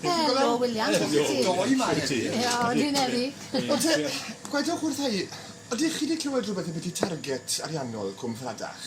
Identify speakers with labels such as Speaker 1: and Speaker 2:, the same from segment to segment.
Speaker 1: Helo Wiliam. Sut wyt ti? Doi yma heddi.
Speaker 2: O dwi'n
Speaker 1: heddi. O te,
Speaker 2: gwedwch wrtha i, ydych chi 'di clywed rwbeth ambyti target ariannol Cwm Ffladach?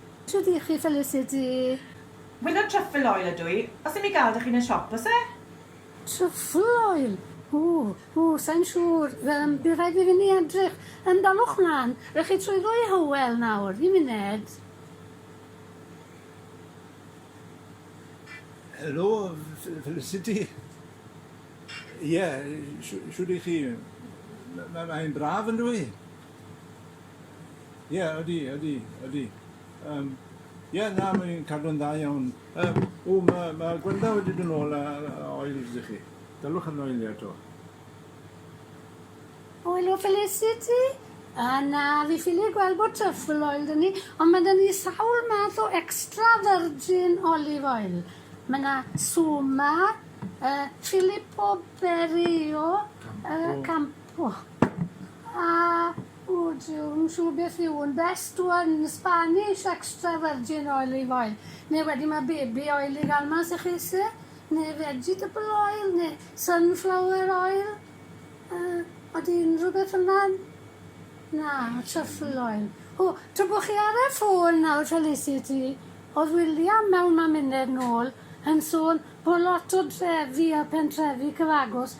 Speaker 3: Shwd ych chi
Speaker 1: Felicity? Winner
Speaker 3: Truffle oil ydw i. Os ddim i ga'l dych chi'n y siop o's e? Truffle
Speaker 1: oil! Ww, ww, sai'n siŵr. Yym, bydd rhaid i fi ni edrych. Yym, daliwch mlan. Rych chi trwy ddwy Hywel nawr. Un muned.
Speaker 4: Helo, Felicity. Ie, shwd ych chi? Mae'n braf yndyw i? Ie, ydy, ydy, ydy. Um, ie, na, mae'n cadw'n dda iawn. Um, o, mae ma Gwenda wedi dyn ôl a, a oils i chi. Dylwch yn oelio eto.
Speaker 1: Oil o Felicity? A na, fi ffili gweld bod truffle oil dyn ni, ond mae dyn ni sawl math o extra virgin olive oil. Mae yna Suma, uh, Filippo Berio, uh, Campo. A ŵyt ti'n siŵr beth yw un best one, Spanish extra virgin olive oil, neu wedyn ma' baby oil i ga'l mas i chi isie, neu vegetable oil, neu sunflower oil, yy odi unrhyw beth fynna'n... Na, truffle oil. O, tra bo' chi ar y ffôn nawr Felicity, o'dd William mewn maminedd nôl yn sôn bo' lot o drefi a pentrefi cyfagos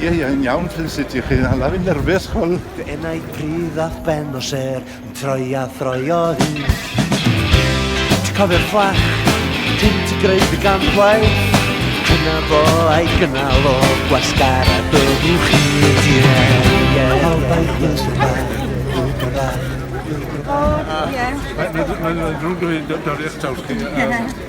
Speaker 4: Ie, ie, yn iawn, Felicity. Chi'n hala fi'n nyrfys, ch'wel'. Fy enaid pridd
Speaker 5: a'th ben o sêr. Yn troi a throio hi Ti cofio'r fflach Ti'n ti greu dy gampwaith Dyna fo a'i gynnal o Gwasgar a byddwch chi Mae'n ddrwg dweud dorri eich taws chi.